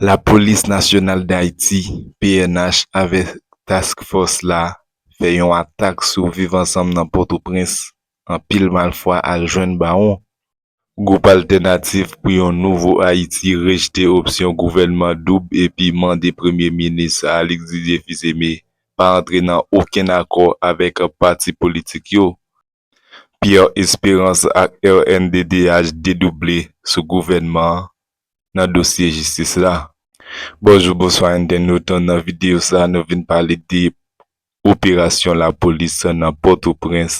Lapolis Nasyonal Dayiti, pnh, avèk Task Fòs la fè yon atak sou Viv Ansanm nan Pòtoprens, anpil malfwa al jwenn bawon. Gwoup Altènativ pou yon Nouvo Ayiti rejte opsyon gouvènman doub epi mande Premye Minis Alix Didier Fils-Aimé pa antre nan okenn akò avèk pati politik yo. Pierre Espérance ak rnddh dedouble sou gouvènman an nan dosye jistis la. Bonjou bonswa entènot, nan videyo sa nou vin pale de operasyon lapolis nan pòtoprens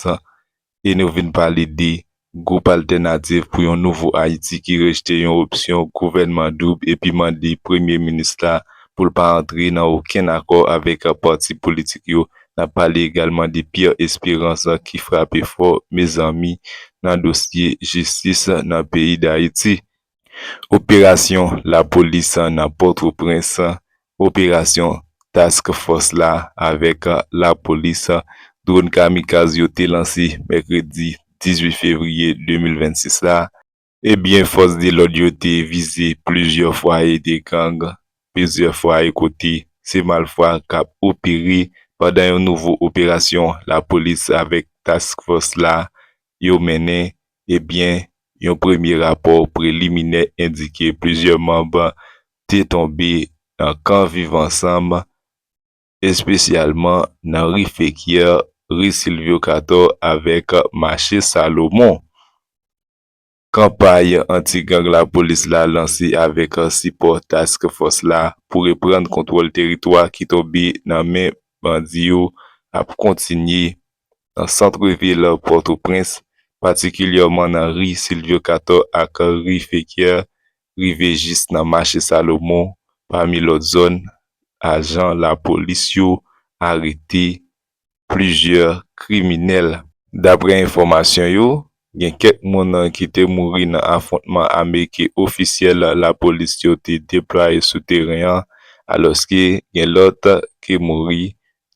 e nou vin pale de gwoup altènativ pou yon nouvo ayiti ki rejte yon opsyon gouvènman doub epi mande premye minis la pou l pa antre nan okenn akò avèk pati politik yo Nap pale egalman de Pierre Esperance ki frape fò mezanmi nan dosye jistis nan peyi Dayiti. Operasyon lapolis nan Pòtoprens, operasyon Task Fòs la avèk lapolis, dronn kamikaz yo te lanse mèkredi 18 fevriye 2026 la, Ebyen fòs de lòd yo te vize plizyè fwaye de gang, plizyè fwaye kote se malfra k ap opere pandan yon nouvo operasyon lapolis avèk task fòs la yo mennen, ebyen yon premye rapò preliminè endike plizyè manb te tonbe nan kan viv ansanm espesyalman nan ri Fekyè, ri Silvyo Katò avèk mache Salomon. Kanpay anti-gang lapolis la lanse avèk sipò Task Fòs la pou reprann kontwòl teritwa ki tonbe nan men bandi yo ap kontinye nan santrevil Pòtoprens, patikilyèman nan ri Sylvio Cator ak ri Féquière rive jis nan mache Salomon, pami lòt zòn. Ajan lapolis yo arete plizyè kriminèl. Daprè enfòmasyon yo, gen kèk moun ki te mouri nan afwontman ame ke ofisyèl lapolis yo te deplwaye sou teren an, alòske gen lòt ke mouri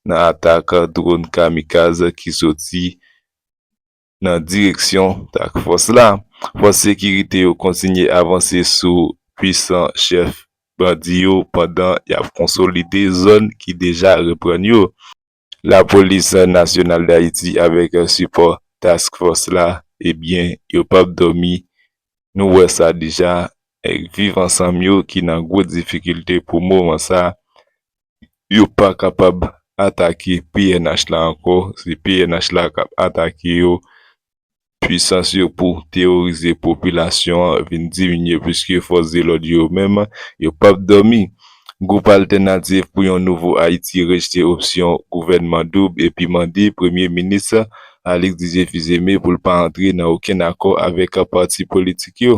nan atak dron kamikaz ki soti nan direksyon Task Force la, fòs sekirite yo kontinye avanse sou pwisan chèf bandi yo pandan y ap konsolide zòn ki deja reprann yo. Lapolis Nasyonal Dayiti avèk sipò Task Force la, ebyen yo p ap dòmi, nou wè sa deja, Viv Ansanm yo ki nan gwo difikilte pou moman sa, yo pa kapab atake pnh la ankò se pnh la kap atake yo pwisans yo pou teworize popilasyon an vin diminye pwiske fòs de lòd yo menm yo pap dòmi Gwoup Altènativ pou yon Nouvo Ayiti rejte opsyon gouvènman doub epi mande Premye Minis Alix Didier Fils-Aimé pou l pa antre nan okenn akò avèk pati politik yo.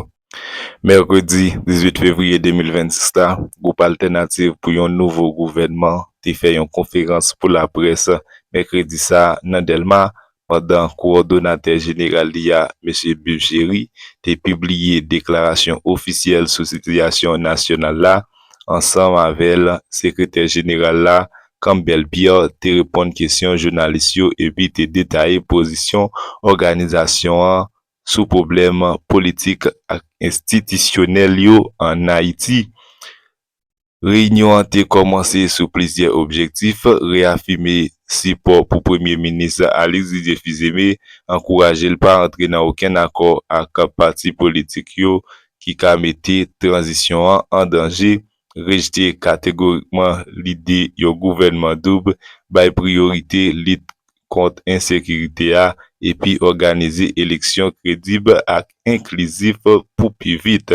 Mèkredi 18 fevriye 2026 la, gwoup Altènativ pou yon nouvo gouvènman te fè yon konferans pou laprès mèkredi sa a nan Dèlma pandan kowòdonatè jeneral li a, mesye Bill Chéry, te pibliye deklarasyon ofisyèl sou sitiyasyon nasyonal la ansanm avè l. Sekretè jeneral la, Cambel Pierre, te reponn kesyon jounalis yo epi te detaye pozisyon òganizasyon an sou pwoblèm politik ak enstitisyonèl yo an Ayiti. Reyinyon an te kòmanse sou plizyè objektif, reyafime sipò pou Premye Minis Alix Didier Fils-Aimé, ankouraje l pa antre nan okenn akò ak pati politik yo ki ka mete tranzisyon an an danje, rejte kategorikman lide yon gouvènman doub, bay priyorite lit kont ensekirite a epi òganize eleksyon kredib ak enklizif pou pi vit.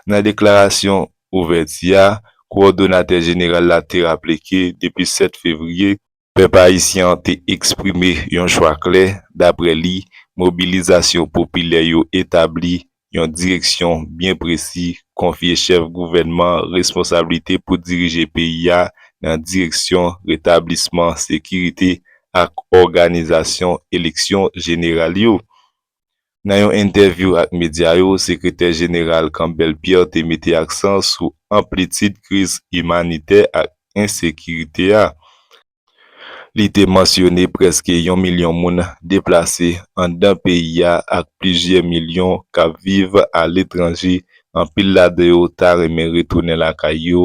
Nan deklarasyon ouvèti a, kowòdonatè jeneral la te raple ke depi 7 fevriye, pèp ayisyen an te eksprime yon chwa klè, daprè li, mobilizasyon popilè yo etabli yon direksyon byen presi, konfye chèf gouvènman responsablite pou dirije peyi a nan direksyon retablisman sekirite ak òganizasyon eleksyon jeneral yo. Nan yon entèvyou ak medya yo, Sekretè Jeneral Campbell Pierre te mete aksan sou anplitid kriz imanitè ak ensekirite a, Li te mansyone prèske yon milyon moun deplase anndan peyi a ak plizyè milyon k ap viv aletranje, anpil ladan yo ta renmen retounen lakay yo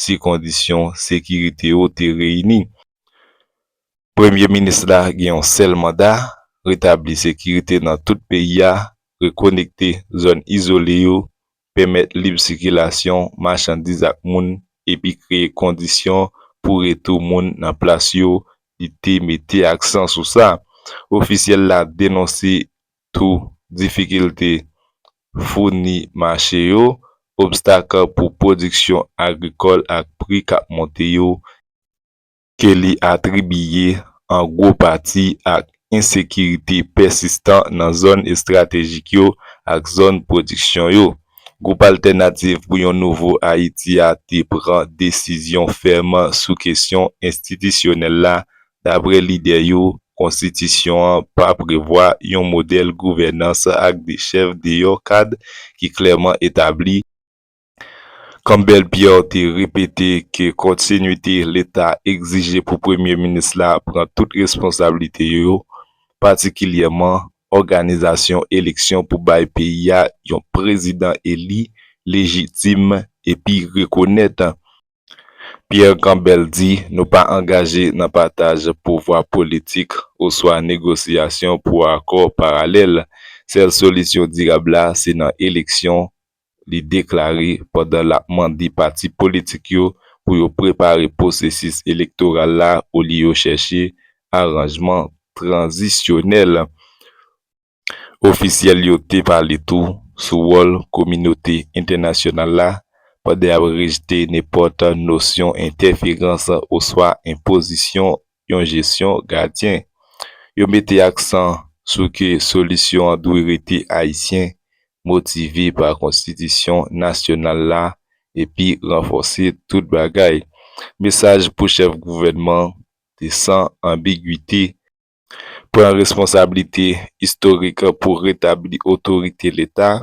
si kondisyon sekirite yo te reyini. Premye minis la gen yon sèl manda, retabli sekirite nan tout peyi a, rekonekte zòn izole yo, pèmèt lib sikilasyon machandiz ak moun epi kreye kondisyon pou retou moun nan plas yo, li te mete aksan sou sa. Ofisyèl la denonse tou difikilte founi mache yo, obstak pou pwodiksyon agrikòl ak pri k ap monte yo, ke li atribiye an gwo pati ak ensekirite pèsistan nan zòn estratejik yo ak zòn pwodiksyon yo, Gwoup Altènativ pou yon Nouvo Ayiti a te pran desizyon fèm sou kesyon enstitisyonèl la, dapre lidè yo, Konstitisyon an pa prevwa yon modèl gouvènans ak 2 chèf deyò kad ki klèman etabli, Campbell Pierre te repete ke kontinwite leta egzije pou premye minis la pran tout responsablite yo, patikilyèman òganizasyon eleksyon pou bay peyi a yon prezidan eli, lejitim epi rekonèt. Pierre Campbell di, Nou pa angaje nan pataj pouvwa politik oswa negosyasyon pou akò paralèl. Sèl solisyon dirab la se nan eleksyon li deklare pandan lap mande pati politik yo pou yo prepare pwosesis elektoral la olye yo chèche aranjman tranzisyonèl. Ofisyèl yo te pale tou sou wòl kominote entènasyonal la pandan yap rejte nenpòt nosyon entèferans oswa enpozisyon yon jesyon gadyen. Yo mete aksan sou ke solisyon an dwe rete ayisyen, motive pa konstitisyon nasyonal la epi ranfòse tout bagay. Mesaj pou chèf gouvènman an te san anbigwite. Pran responsablite istorik pou retabli otorite leta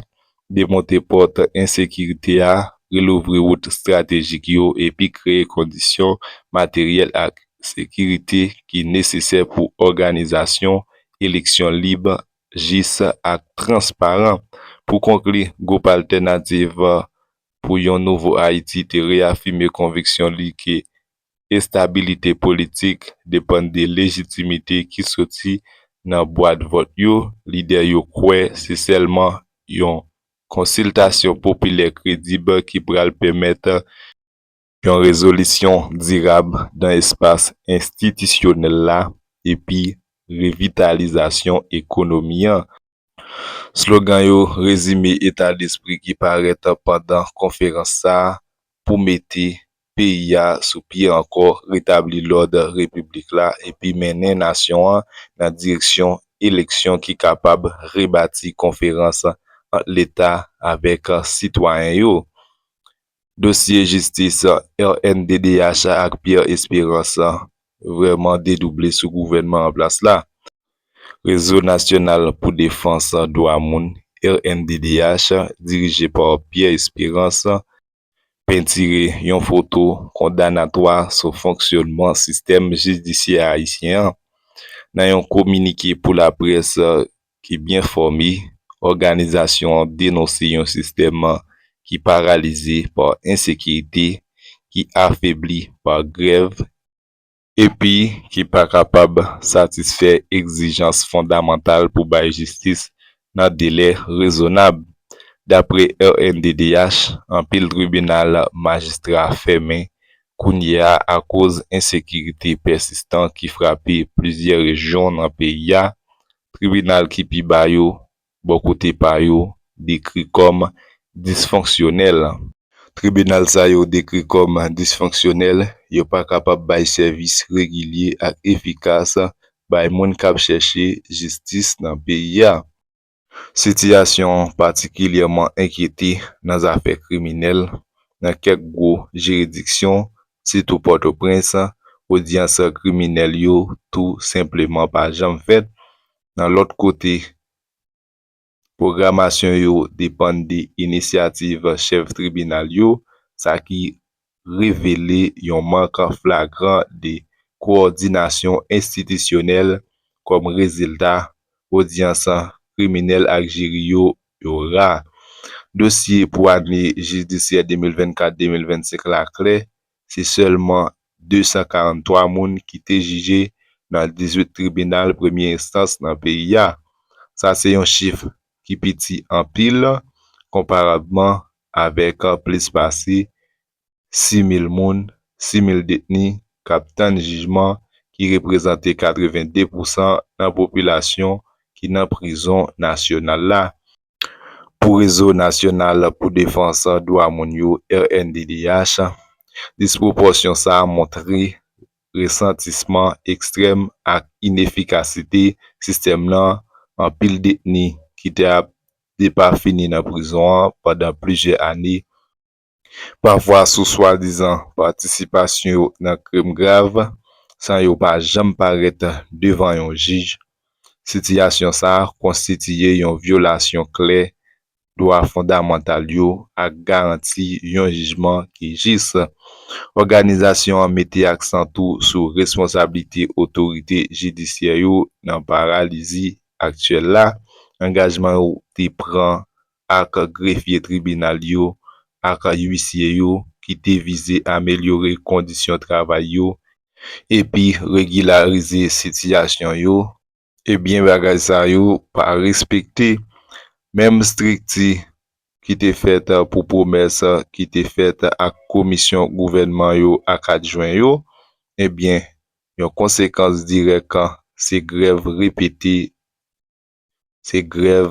demonte pòt ensekirite a, relouvri wout estratejik yo epi kreye kondisyon materyèl ak sekirite ki nesesè pou òganizasyon eleksyon lib, jis ak transparan. Pou konkli, Gwoup Altènativ pou yon Nouvo Ayiti te reyafime konviksyon li ke estabilite politik depann de lejitimite ki soti nan bwat vòt yo, lidè yo kwè se sèlman yon konsiltasyon popilè kredib ki pral pèmèt yon rezolisyon dirab nan espas enstitisyonèl la epi revitalizasyon ekonomi an. Slogan yo rezime eta despri ki parèt pandan konferans sa a pou mete peyi a sou pye ankò, retabli lòd repiblik la epi mennen nasyon an nan direksyon eleksyon ki kapab rebati konferans ant leta avèk sitwayen yo. Dosye jistis rnddh la ak Pierre Esperance vrèman dedouble sou gouvènman anplas la. Rezo Nasyonal pou Defans Dwa Moun, rnddh, dirije pa Pierre Esperance, pentire yon foto kondanatwa sou fonksyònman sistèm jidisyè ayisyen an. Nan yon kominike pou laprès ki byen fòme, òganizasyon an denonse yon sistèm ki paralize pa ensekirite, ki afebli pa grèv, epi ki pa kapab satisfè egzijans fondamantal pou bay jistis nan delè rezonab. Dapre rnddh, anpil tribinal, majistra fèmen, Kounye a, akoz ensekirite pèsistan ki frape plizyè rejyon nan peyi a, tribinal ki pi ba yo, bò kote pa yo, dekri kòm disfonksyonèl. Tribinal sa yo dekri kòm disfonksyonèl, yo pa kapab bay sèvis regilye ak efikas bay moun k ap chèche jistis nan peyi a. Sitiyasyon patikilyèman enkyete nan zafè kriminèl nan kèk gwo jiridiksyon, sitou Pòtoprens, odyans kriminèl yo tou senpleman pa janm fèt. Nan lòt kote, pwogramasyon yo depann de inisyativ chèf tribinal yo, sa ki revele yon mank flagran de kowòdinasyon enstitisyonèl kòm rezilta, odyans kriminèl ak jiri yo yo ra. Dosye pou ane jidisyè 2024-2025 la klè, se sèlman 243 moun ki te jije nan 18 tribinal premye enstans nan peyi a. Sa se yon chif ki piti anpil konparabman avèk plis pase 6 mil moun, 6 mil detni, k ap tann jijman, ki reprezante 82 pousan nan popilasyon ki nan prizon nasyonal la. Pou Rezo Nasyonal pou Defans Dwa Moun yo, rnddh, dispwopòsyon sa a montre resantisman ekstrèm ak inefikasite sistèm nan, anpil detni ki te ap Depa fini nan prizon an pandan plizyè ane. Pafwa sou swadizan patisipasyon yo nan krim grav, san yo pa janm parèt devan yon jij. Sitiyasyon sa konstitiye yon vyolasyon klè dwa fondamantal yo ak garanti yon jijman ki jis. Òganizasyon an mete aksan tou sou responsablite otorite jidisyè yo nan paralizi aktyèl la, angajman yo te pran ak grefye tribinal yo ak uisye yo ki te vize amelyore kondisyon travay yo epi regilarize sitiyasyon yo, ebyen bagay sa yo pa respekte. Menm strikti ki te fèt pou pwomès ki te fèt ak komisyon gouvènman yo ak adjwen yo, ebyen Yon konsekans dirèk se grèv repete se grèv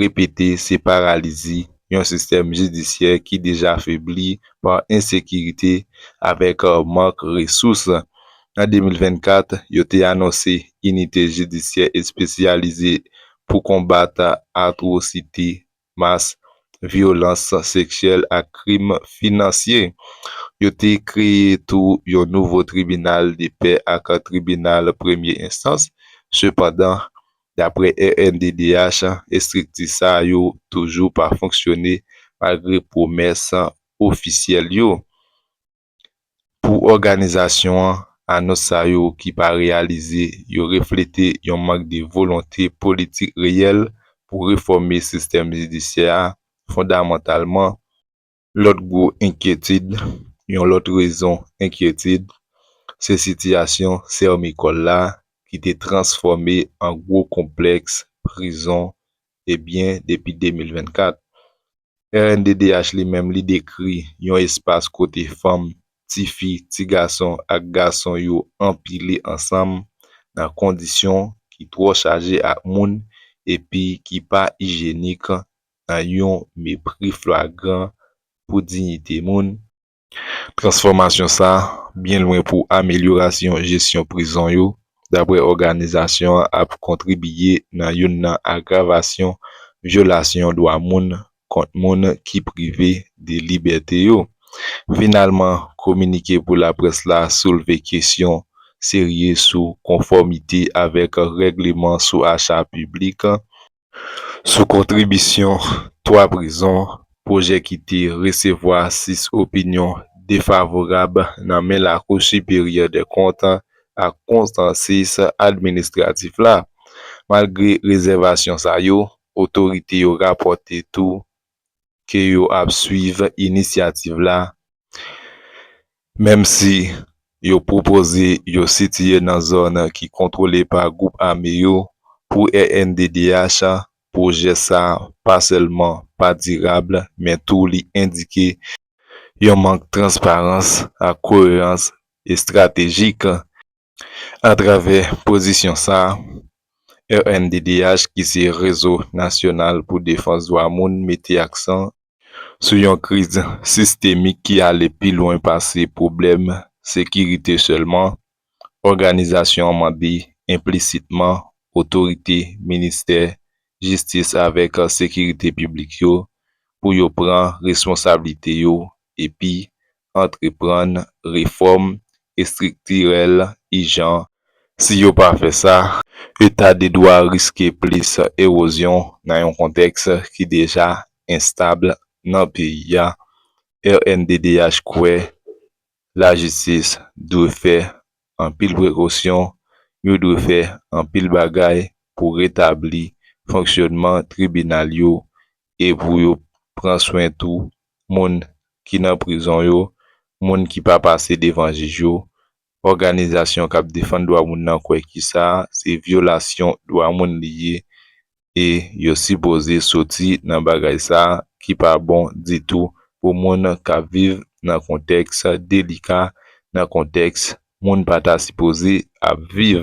repete se paralizi yon sistèm jidisyè ki deja febli pa ensekirite avèk mank resous. An 2024, yo te anonse inite jidisyè espesyalize pou konbat atwosite mas, vyolans seksyèl ak krim finansye. Yo te kreye tou yon nouvo tribinal depè ak tribinal premye enstans. Sepandan, dapre rnddh, estrikti sa yo toujou pa fonksyone malgre pwomès ofisyèl yo. Pou òganizasyon an, anons sa yo ki pa reyalize yo reflete yon mank de volonte politik reyèl pou refòme sistèm jidisyè a fondamantalman. Lòt gwo enkyetid, yon lòt rezon enkyetid, se sitiyasyon Sèmikòl la ki te transfòme an gwo konplèks prizon te byen depi 2024. Rnddh li menm li dekri yon espas kote fanm, tifi, ti gason ak gason yo anpile ansanm nan kondisyon ki twò chaje ak moun epi ki pa ijyenik nan yon mepri flagran pou dinyite moun, Transfòmasyon sa a byen lwen pou amelyorasyon jesyon prizon yo, daprè òganizasyon an ap kontribiye nan youn nan agravasyon vyolasyon dwa moun kont moun ki prive de libète yo. Finalman, kominike pou laprès la soulve kesyon serye sou konfòmite avèk règleman sou acha piblik, Sou kontribisyon twa prizon, pwojè ki te resevwa sis opinyon defavorab nan men Lakou Siperyè Dèkont ak Kontantis Administratif la. Malgre rezèvasyon sa yo, otorite yo rapòte tou ke yo ap swiv inisyativ la Menm si yo pwopoze yo sitiye nan zòn ki kontwole pa gwoup ame yo, pou rnddh, pwojè sa pa sèlman pa dirab men tou li endike yon mank transparans ak koyerans estratejik. Atravè pozisyon sa a, rnddh ki se Rezo Nasyonal pou Defans Dwa Moun mete aksan sou yon kriz sistemik ki ale pi lwen pase pwoblèm sekirite sèlman, òganizasyon an mande enplisitman otorite ministè jistis avèk sekirite piblik yo pou yo pran responsablite yo epi antreprann refòm estriktirèl ijan, si yo pa fè sa, etadedwa riske plis ewozyon nan yon kontèks ki deja enstab nan peyi a. Rnddh kwè lajistis dwe fè anpil prekosyon, yo dwe fè anpil bagay pou retabli fonksyonman tribinal yo e pou yo pran swen tou moun ki nan prizon yo, moun ki pa pase devan jij yo. Òganizasyon k ap defann dwa moun nan kwè ki sa a se vyolasyon dwa moun li ye e yo sipoze soti nan bagay sa ki pa bon ditou pou moun kap viv nan kontèks delika, nan kontèks moun pa ta sipoze ap viv.